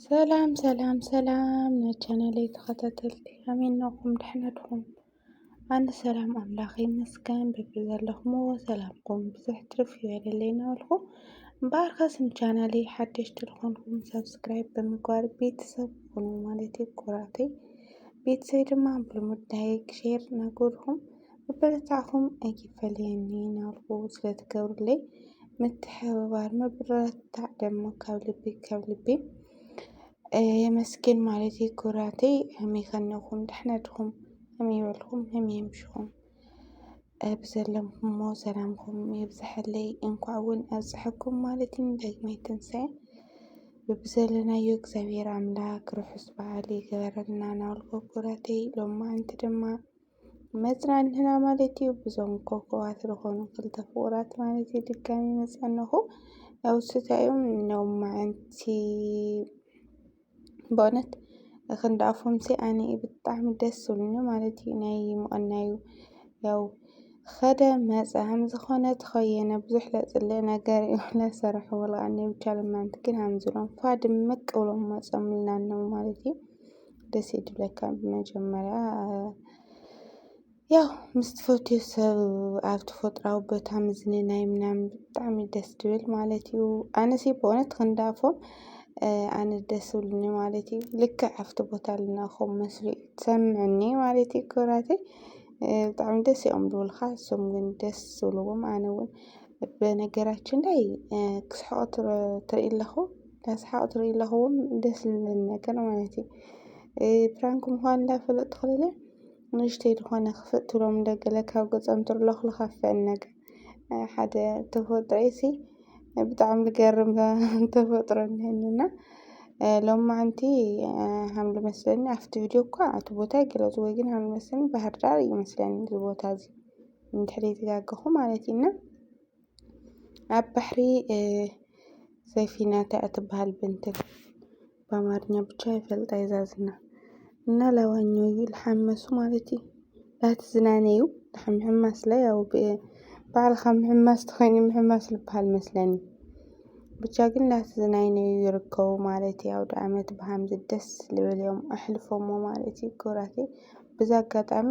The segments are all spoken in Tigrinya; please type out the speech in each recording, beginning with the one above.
ሰላም ሰላም ሰላም ናይ ቻናለይ ተኸታተልቲ ከመይ ኣለኹም? ደሕና ድኹም? ኣነ ሰላም ኣምላኽ ይመስገን በቢዘለኹምዎ ሰላምኩም ብዝሕ ትርፍ ይበለለይ እናበልኩ እምበኣር ከስ ንቻናለይ ሓደሽቲ ዝኾንኩም ሰብስክራይብ ብምግባር ቤተሰብ ኩኑ ማለት እዩ ኩራተይ ቤተሰብ ድማ ብልሙድ ላይክ ሼር እናገበርኩም ምብርታዕኹም ኣይፈለየኒ ናብኡ ስለትገብሩለይ ምትሕብባር ምብርታዕ ደሞ ካብ ልቢ ካብ ልቢ የመስግን ማለት እዩ። ኩራተይ ከመይ ከነኹም ደሕና ድኹም ከመይ በልኩም ከመይ ኣምሽኹም ብዘለምኩሞ ሰላምኩም ይብዝሐለይ እንኳዕ እውን ኣብፀሐኩም ማለት እዩ ንዳግማይ ትንሳኤ ብብዘለናዮ እግዚኣብሔር ኣምላክ ርሑስ በዓል ይገበረልና ናበልኩ ኩራተይ ሎማዓንቲ ድማ መጽናንህና ማለት እዩ ብዞም ኮኮባት ዝኾኑ ክልተ ፍቑራት ማለት እዩ ድጋሚ መጸንኹ ያው ስታዮም ነው ማዓንቲ በእውነት ክንዲ ኣፎምሲ ኣነ ብጣዕሚ ደስ ዝብሉኒ ማለት እዩ ናይ ምቕናዩ ያው ኸደ መፀ ሃም ዝኾነ ተኸየነ ብዙሕ ለፅለ ነገር እዩ ለሰርሑ ብልኣኒ ብቻ ልማንት ግን ሃምዝሎም ፋ ድምቅ ብሎም መፆምልና ነው ማለት እዩ ደስ ይብለካ ብመጀመርያ ያው ምስ ትፈትዮ ሰብ ኣብ ተፈጥራዊ ቦታ ምዝንናይ ምናምን ብጣዕሚ ደስ ትብል ማለት እዩ። ኣነሲ ብእውነት ክንዳፎም ኣነ ደስ ብልኒ ማለት እዩ። ልክዕ ኣብቲ ቦታ ኣለና ከም መስሉ እዩ ትሰምዕኒ ማለት እዩ ክብራተይ ብጣዕሚ ደስ እዮም ዝብሉኻ እሶም ግን ደስ ዝብልዎም ኣነ እውን በነገራችን ላይ ክስሕቁ ትርኢ ኣለኹ። ዳስሓቅ ትሪኢ ኣለኹ ደስ ዝብል ነገር ማለት እዩ ፕራንክ ምዃን እንዳፈለጥ ትኽልለ ንእሽተይ ዝኾነ ክፍእ ትብሎም እንደገለ ካብ ገጾም ትርለኽ ልኻፍአን ነገር ሓደ ተፈጥሮ እዩሲ ብጣዕሚ ዝገርም ተፈጥሮ እኒሀኒና ሎም መዓንቲ ሃም ልመስለኒ ኣብቲ ቪድዮ እኳ እቲ ቦታ ኣይገለፅዎ ግን ሃም ልመስለኒ ባህርዳር እዩ መስለኒ እዚ ቦታ እዚ እንድሕሪ ተጋገኹ ማለት እዩና ኣብ ባሕሪ ሰፊና ታይ እያ ትባሃል ብንትን ብኣማርኛ ብቻ ይፈልጣ እየ ዛዝና እና ላዋኞ እዩ ልሓመሱ ማለት እዩ ላቲ ዝናነ እዩ ድሓን ምሕማስ ላይ ያው ባዕልኻ ምሕማስ ተኾይኑ ምሕማስ ልባሃል መስለኒ ብቻ ግን ላቲ ዝናይነ እዩ ይርከቡ ማለት እዩ ኣውደ ኣመት ብሃምዚ ደስ ልብል እዮም ኣሕልፎሞ ማለት እዩ ክብራተይ ብዛ ኣጋጣሚ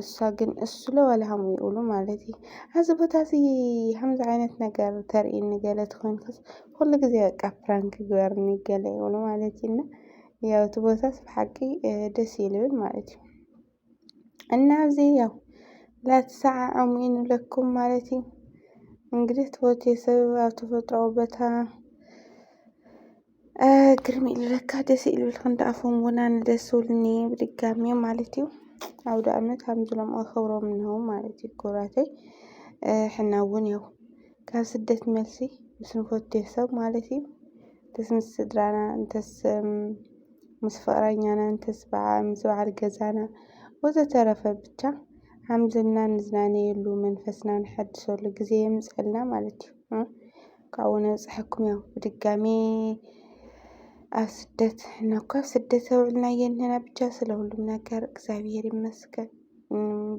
እሳ ግን እስሎ ወላሃም ይኡሉ ማለት እዩ ኣዚ ቦታ እዚ ከምዚ ዓይነት ነገር ተርእኒ ገለ ትኾንክስ ኩሉ ግዜ በቃ ፕራንክ ግበርኒ ገለ ይብሉ ማለት እዩ እና ያው እቲ ቦታስ ብሓቂ ደስ ይልብል ማለት እዩ እና ኣብዚ ያው ላትሰዓዖም ይንብለኩም ማለት እዩ እንግዲህ ትወት የሰብ ኣብ ተፈጥሮ ቦታ ግርም ኢሉ ለካ ደስ ኢሉልክ እንዳ ኣፎም እውን ኣነ ደስ ኢሉኒ ብድጋሚ ማለት እዩ ኣውደ ኣመት ከምዝሎም ኣኸብሮም ነው ማለት እዩ ክብራተይ ሕና እውን ያው ካብ ስደት መልሲ ምስ ንፈትዮ ሰብ ማለት እዩ እንተስ ምስ ስድራና እንተስ ምስ ፍቕረኛና እንተስ በዓ- ምስ በዓል ገዛና ወዘተረፈ ብቻ ሓምዝና ንዝናነየሉ መንፈስና ንሐድሰሉ ግዜ የምፀልና ማለት እዩ ካብኡ ነብፅሐኩም ያው ብድጋሚ ኣብ ስደት እና እኳ ኣብ ስደት ተውዕልና የንህና ብቻ ስለ ሁሉም ነገር እግዚኣብሔር ይመስገን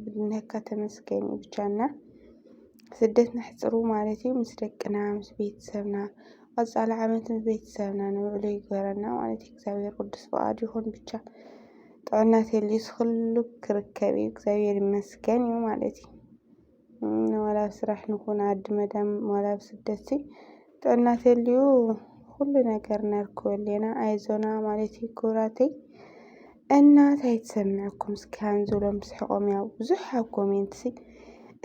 ብድነካ ተመስገን እዩ ብቻ እና ስደት ነሕፅሩ ማለት እዩ ምስ ደቅና ምስ ቤተሰብና ቀፃሊ ዓመት ምስ ቤተሰብና ንውዕሉ ይግበረና ማለት እዩ እግዚኣብሔር ቅዱስ ፍቃድ ይኹን ብቻ ጥዕና ተልዩስ ኩሉ ክርከብ እዩ እግዚኣብሔር ይመስገን እዩ ማለት እዩ ዋላ ኣብ ስራሕ ንኹን ዓዲ መዳም ዋላ ኣብ ስደት ጥዕና ተልዩ ኩሉ ነገር ነርክበሉ ኢና ኣይዞና ማለት እዩ ክብራተይ እና እንታይ ትሰምዕኩም እስኪ ሃንዝሎም ስሕቆም ያው ብዙሕ ኣብ ኮሜንት ሲ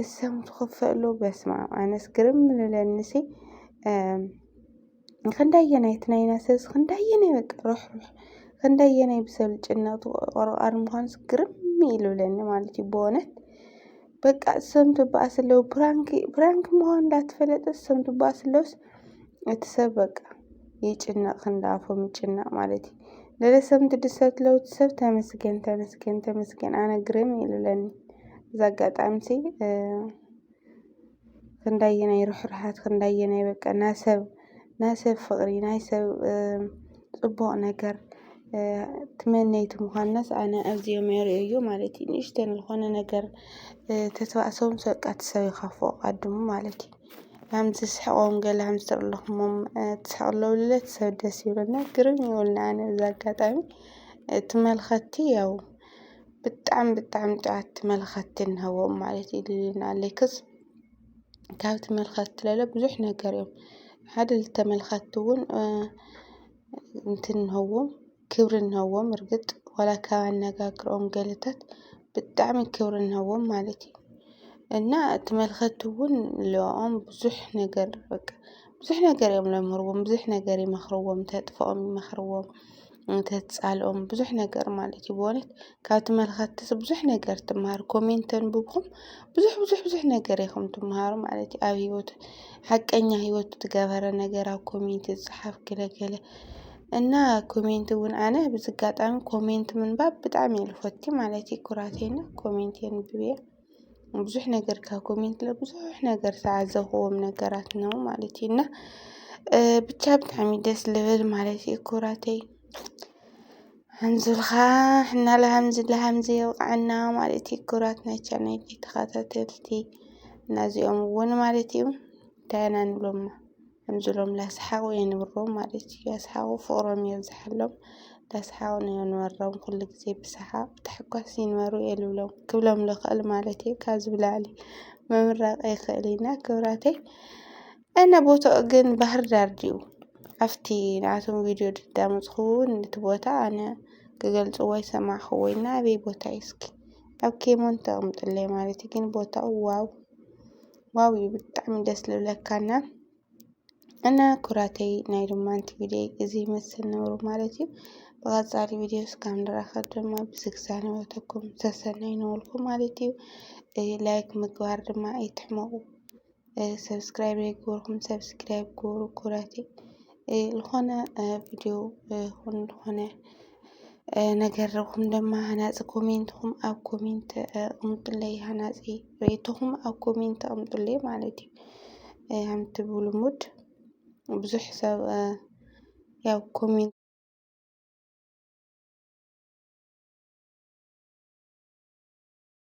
እሰም ትኸፈሉ በስማ ኣነስ ግርም ንለኒ ሲ ኽንደየናይ ናይ ነሰ ኽንደየናይ በቃ ርሕሩሕ ኽንደየናይ ብሰብ ዝጭነቅ ተቆርቋሪ ምዃኑስ ግርም ኢሉብለኒ ማለት እዩ ብእውነት በቃ እሶም ትበኣስ ኣለዉ ፕራንክ ፕራንክ ምዃኑ እንዳተፈለጠ እሶም ትበኣስ ኣለዉስ እቲ ሰብ በቃ ይጭነቅ ክንዳኣፎም ይጭነቅ ማለት እዩ ለለሰብ ትድሰት ለውቲ ሰብ ተመስገን ተመስገን ተመስገን ኣነ ግርም ኢሉብለኒ እዛ ኣጋጣሚሲ ክንደየናይ ርሕሩሓት ክንደየናይ በቃ ናይ ሰብ ናይ ሰብ ፍቕሪ ናይ ሰብ ፅቡቕ ነገር ትመነይቲ ምዃናስ ኣነ ኣዚዮም የርእዩ ማለት እዩ። ንእሽተን ዝኾነ ነገር ተተባእሶም በቃ እቲ ሰብ ይኸፍኦ ቀድሙ ማለት እዩ። ከም ዝስሕቖም ገለ ከም ዝተርለኹሞም ትስሕቕ ኣለዉ ኢለ እቲ ሰብ ደስ ይብለና ግርም ይብለኒ ኣነ በዚ ኣጋጣሚ እቲ መልኸቲ ያው ብጣዕሚ ብጣዕሚ ጥዕምቲ መልኸቲ ንህቦም ማለት እዩ ልልና ሌክስ ካብቲ መልኸቲ ለለ ብዙሕ ነገር እዮም ሓደ ልተመልከቲ እውን እንትንህዎም ክብሪ ንህዎም እርግጥ ዋላ ካብ ኣነጋግሮኦም ገለታት ብጣዕሚ ክብሪ ንህቦም ማለት እዩ። እና እቲ መልኸቲ እውን ልኦም ብዙሕ ነገር በቃ። ብዙሕ ነገር እዮም ለምህርዎም ብዙሕ ነገር ይመኽርዎም ተጥፍኦም ይመኽርዎም ተትፃልኦም ብዙሕ ነገር ማለት እዩ። ብእውነት ካብቲ መልኸቲ ሰብ ብዙሕ ነገር ትመሃር ኮሜንት ተንብብኹም ብዙሕ ብዙሕ ብዙሕ ነገር ኢኹም ትመሃሩ ማለት እዩ። ኣብ ህይወት ሓቀኛ ህይወት ትገበረ ነገር ኣብ ኮሜንት ዝፀሓፍ ገለገለ እና ኮሜንት እውን ኣነ ብዝጋጣሚ ኮሜንት ምንባብ ብጣዕሚ እየ ልፈቲ ማለት እዩ። ኩራቴና ኮሜንት የንብብ እየ። ብዙሕ ነገር ካብ ኮሜንት ለ ብዙሕ ነገር ዝተዓዘብክዎም ነገራት እነዉ ማለት እዩ እና ብቻ ብጣዕሚ ደስ ልብል ማለት እዩ ኩራተይ ሓንዙልካ እና ልሃምዚ ልሃምዚ የብቕዓና ማለት እዩ ኩራት ናይ ቻናይ ተኸታተልቲ እና እዚኦም እውን ማለት እዩ እንታይ ኢና ንብሎማ ከምዚሎም ላስሓቑ የንብሮም ማለት እዩ። ላስሓቑ ፍቕሮም የብዝሓሎም ላስሓቑ ንየንበሮም ኩሉ ግዜ ብሰሓቕ ብታሕጓስ ይንበሩ የልብሎም ክብሎም ልኽእል ማለት እዩ። ካብዚ ብላዕሊ ምምራቕ ኣይክእልንና ክብራተይ እና ቦታኡ ግን ባህር ዳር ድዩ? ኣብቲ ንኣቶም ቪድዮ ድዳመፅኹ እውን እቲ ቦታ ኣነ ክገልፅዎ ኣይሰማዕኹዎ እና ኣበይ ቦታ እዩ እስኪ ኣብ ኬሞን ተቕምጥለይ ማለት እዩ። ግን ቦታኡ ዋው ዋው እዩ ብጣዕሚ ደስ ልብለካ እና እና ኩራተይ ናይ ሩማንት ቪድዮ እዚ ይመስል ነብሩ ማለት እዩ። ብቐፃሊ ቪድዮ እስካብ ንራኸብ ድማ ብዝግዛነበተኩም ሰሰናይ ነበልኩ ማለት እዩ። ላይክ ምግባር ድማ ኣይትሕመቑ። ሰብስክራይብ ዘይገበርኩም ሰብስክራይብ ግበሩ ኩራተይ። ልኾነ ቪድዮ ኹን ልኾነ ነገር ኹም ደማ ሃናፂ ኮሜንትኹም ኣብ ኮሜንት ኣቕምጡለይ ሃናፂ ርኢቶኹም ኣብ ኮሜንት ኣቕምጡለይ ማለት እዩ ከምቲ ብልሙድ ብዙሕ ሰብ ያው ኮሜንት